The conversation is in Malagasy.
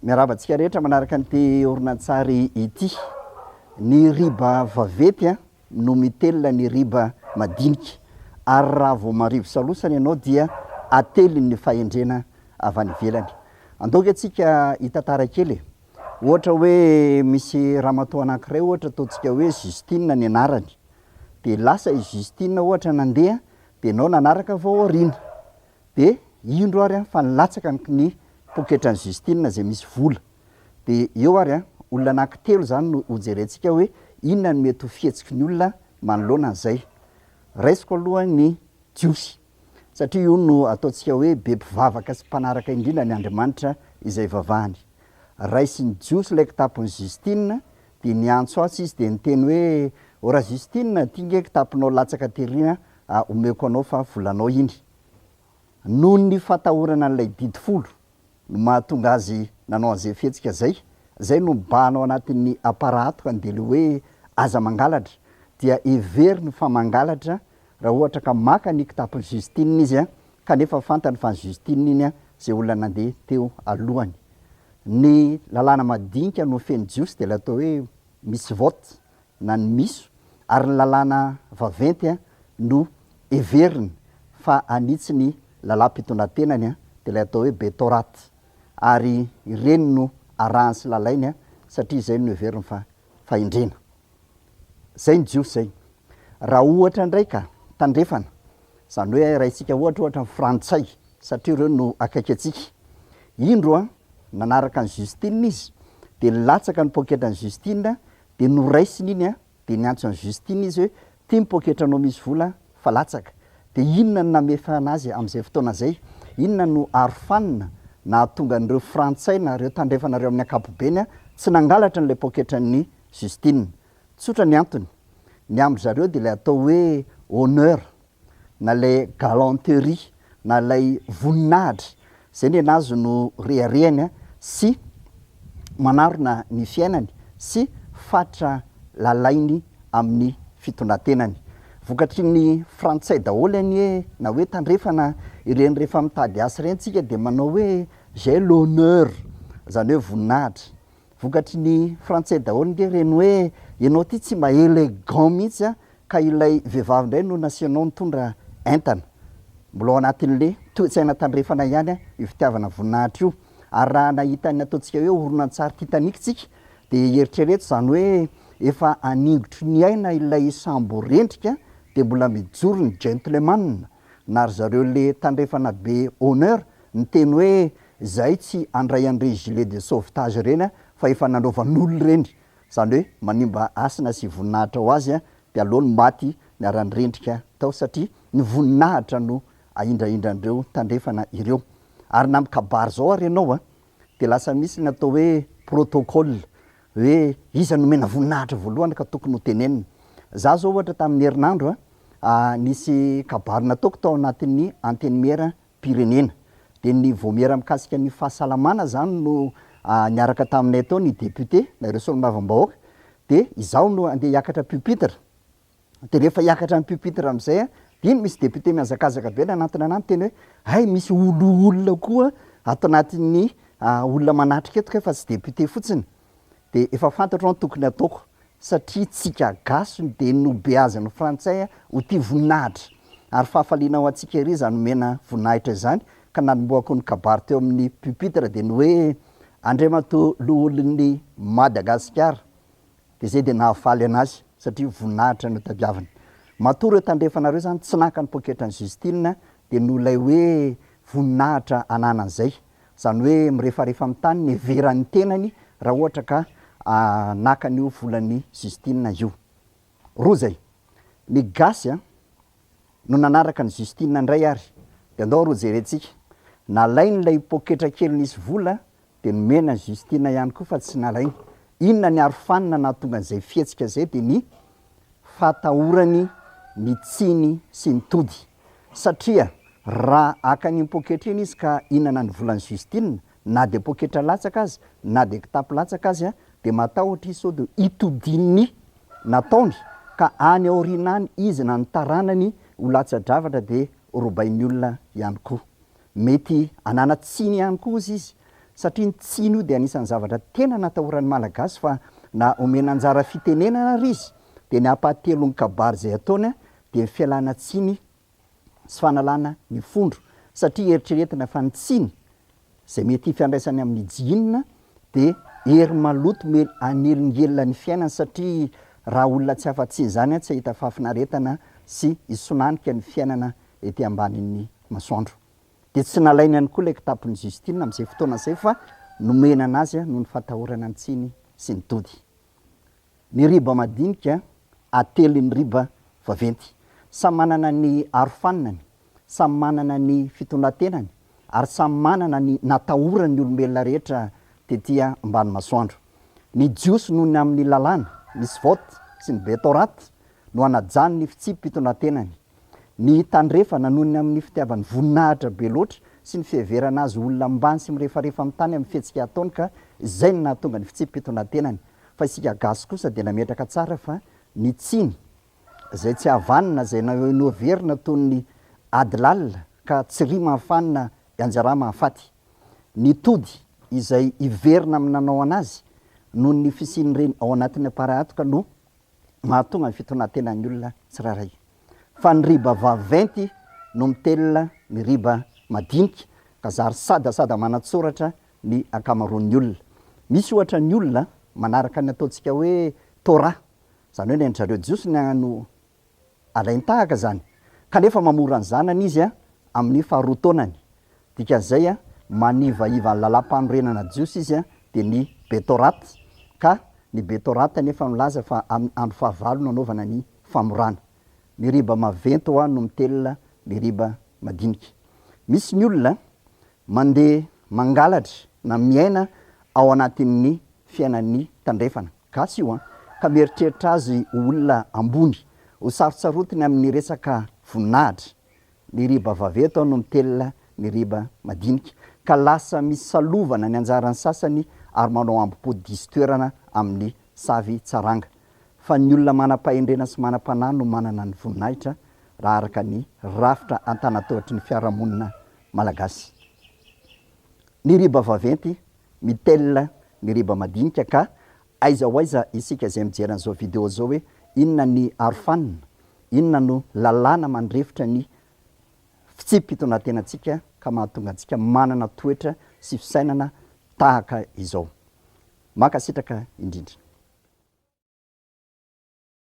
Miarahaba antsika rehetra manaraka an'ity horonantsary ity. Ny riba vaventy no mitelina ny riba madinika, ary raha vao marivo salosana ianao dia ateliny ny fahendrena avy any ivelany. Andao ve tsika hitantara kely e! Ohatra hoe misy ramatoa anankiray ohatra ataontsika hoe Justine ny anarany, dia lasa i Justine ohatra nandeha dia ianao nanaraka avy ao aoriana, de indro ary an fa nilatsaka ny ny poketran'i Justine zay misy vola, de eo ary an olona anaky telo zany no ho jerentsika hoe inona no mety ho fihetsiky ny olona manoloana an'izay, raisiko aloha ny Jiosy satria io no ataontsika hoe be mpivavaka sy mpanaraka indrindra ny Andriamanitra izay ivavahany, raisin'ny Jiosy ilay kitapon'i Justine de niantso atsy izy de niteny hoe, ô ra Justine, ty nge kitaponao latsaka tery an Ah, omeko anao fa volanao iny. Noho ny fatahorana an'ilay didy folo no mahatonga azy nanao an'izay fihetsika izay, izay no mibahana ao anatin'ny aparato ka dia ilay hoe aza mangalatra dia heveriny fa mangalatra raha ohatra ka maka ny kitapon'i Justine izy kanefa fantany fa an'i Justine iny izay olona nandeha teo alohany. Ny lalàna madinika no feno jiosy dia ilay atao hoe misy vote. na ny miso ary ny lalàna vaventy no heveriny fa hanitsy ny lalàm-pitondratenany dia ilay atao hoe Betorat ary ireny no arahany sy lalainy satria izay no heveriny fa fahendrena. Izay ny Jiosy izay. Raha ohatra indray ka tandrefana Izany hoe raintsika ohatra ohatra ny frantsay satria ireo no akaiky antsika. Indro an, nanaraka an'i Justine izy dia nilatsaka ny poketrany Justine dia noraisiny iny an, dia niantso an'i Justine izy hoe ity ny poketranao misy vola fa latsaka. Dia inona no namefana azy amin'izay fotoana izay? Inona no arofanina nahatonga an'ireo frantsay na ireo tandrefanareo amin'ny ankapobeny tsy nangalatra an'ilay poketran'i Justine? Tsotra ny antony, ny amin-dry zareo dia ilay atao hoe honneur, na ilay galanterie, na ilay voninahitra, izay ny an'azy no reharehany sy manarona ny fiainany sy fatra lalainy amin'ny fitondran-tenany. Vokatry ny frantsay daholo anie na hoe tandrefana ireny rehefa mitady asa ireny isika dia manao hoe j'ai l'honneur, izany hoe voninahitra. Vokatry ny frantsay daholo nge reny hoe ianao ty tsy mba elegant mihitsy a! ka ilay vehivavy indray no nasianao nitondra entana. Mbola ao anatin'le toetsaina tandrefana ihany a! io fitiavana voninahitra io. Ary raha nahita ny ataontsika hoe horonantsary Titanic tsika dia eritrereto izany hoe efa haningotry ny aina ilay sambo rendrika dia mbola mijoro ny gentleman. na ry zareo le tandrefana be honneur niteny hoe zahay tsy andray an'ireny gilet de sauvetage ireny an fa efa nanaovan'olo ireny zany hoe manimba hasina sy voninahitra ho azy an de aleo ny maty niara-nirendrika tao satria ny voninahitra no ahindrahindrandreo tandrefana ireo ary na mikabary zao ary ianao an de lasa misy ny atao hoe protocole hoe iza no omena voninahitra voalohany ka tokony ho tenenina. Za zao ohatra tamin'ny herinandro a, nisy kabary nataoko tao anatin'ny antenimiera pirenena, dia ny vaomiera mikasika ny fahasalamana zany no niaraka taminay tao ny député na ireo solombavambahoaka, dia izaho no andeha hiakatra pupitre, dia rehefa hiakatra ny pupitre amin'izay an, dia iny misy député mihazakazaka be any anatiny any miteny hoe hay misy olo olona koa ato anatin'ny olona manatrika eto kay fa tsy député fotsiny dia efa fantatro ny tokony hataoko satria tsika gasy no dia nobeazin'ny frantsay ho tia voninahitra ary fahafaliana ho antsika ery izany omena voninahitra izany ka nanombohako ny kabary teo amin'ny pupitre dia ny hoe Andriamatoa loholon'i Madagasikara. Dia izay dia nahafaly anazy satria voninahitra notadiaviny. Matoa ireo tandrefana ireo izany tsy naka ny poketran'i Justine dia noho ilay hoe voninahitra ananany izay. Izany hoe mirefarefa amin'ny tany ny heveran'ny tenany raha ohatra ka naka an'io volan'i Justine io. Roa izay. Ny gasy no nanaraka an'i Justine indray ary. Dia andao ary hojerentsika. Nalainy ilay poketra kely nisy vola Dia nomena an'i Justina ihany koa fa tsy nalainy. Inona ny arofanina nahatonga an'izay fihetsika izay dia ny fahatahorany ny tsiny sy ny tody. Satria raha haka an'iny poketra iny izy ka hihinana ny volan'i Justina, na dia poketra latsaka aza, na dia kitapo latsaka aza, dia matahotra izy sao dia hitodian'ny nataony ka any aoriana any izy na ny taranany ho latsa-dravatra dia robain'ny olona ihany koa. Mety hanana tsiny ihany koa ozy izy satria ny tsiny io dia anisan'ny zavatra tena natahoran'ny Malagasy fa na omena anjara fitenenana ary izy dia ny ampahatelon'ny kabary izay ataony dia ny fialana tsiny sy fanalana ny fondro satria eritreretina fa ny tsiny izay mety hifandraisany amin'ny jihinina dia hery maloto me hanelingelina ny fiainany satria raha olona tsy afa-tsy izany tsy hahita fahafinaretana sy hisonantika ny fiainana ety ambanin'ny masoandro. Dia tsy nalainy ihany koa ilay kitapon'i Justine amin'izay fotoana izay fa nomena an'azy noho ny fahatahorana ny tsiny sy ny tody. Ny riba madinika atelin'ny riba vaventy. Samy manana ny arofaninany, samy manana ny fitondran-tenany ary samy manana ny natahorany ny olombelona rehetra tety ambany masoandro. Ny Jiosy noho ny amin'ny lalàna, Misvot, sy ny Betorat no hanajan'ny fitsipi-pitondran-tenany. Ny Tandrefana, noho ny amin'ny fitiavany voninahitra be loatra sy ny fiheverana azy ho olona ambany sy mirefarefa amin'ny tany amin'ny fihetsika ataony ka izay no nahatonga ny fitsipi-pitonantenany. Fa isika Gasy kosa dia nametraka tsara fa ny tsiny izay tsy havanana, izay noheverina toy ny ady lalina ka tsy ry mahafanina ianjara mahafaty. Ny tody izay hiverina amin'ny nanao anazy noho ny fisian'ireny ao anatin'ny aparahatoka no mahatonga ny fitonantenan'ny olona tsirairay. Fa ny riba vaventy no mitelina ny riba madinika ka zary sada sada manatsoratra ny ankamaroan'ny olona. Misy ohatra ny olona manaraka ny ataontsika hoe Torah, izany hoe ny an-dry zareo Jiosy no alain-tahaka izany, kanefa mamora ny zanany izy amin'ny faharoa taonany. Dikan'izay, manivahiva ny lalàm-panorenana jiosy izy, dia ny Betorat, ka ny Betorat anefa milaza fa amin'ny andro fahavalo no anaovana ny famorana. Meriba maventy hoa no mitelina meriba madinika. Misy ny olona mandeha mangalatra na miaina ao anatin'ny fiainan'ny tandrefana. Gasy io an! Ka mieritreritra azy ho olona ambony, ho sarotsarotiny amin'ny resaka voninahitra. Ny riba vaventy no mitelina ny riba madinika, ka lasa misalovana ny anjaran'ny sasany ary manao ambo-po diso toerana amin'ny savy tsaranga. Fa ny olona manam-pahendrena sy manam-panahy no manana ny voninahitra, raha araka ny rafitra an-tanan-tohotry ny fiarahamonina malagasy. Ny riba vaventy Mitelina ny riba madinika ka aiza ho aiza isika izay mijery an'izao video izao hoe inona ny arofanina, inona no lalàna mandrefitra ny fitsipi-pitondratenantsika ka mahatonga antsika manana toetra sy fisainana tahaka izao. Mankasitraka indrindra.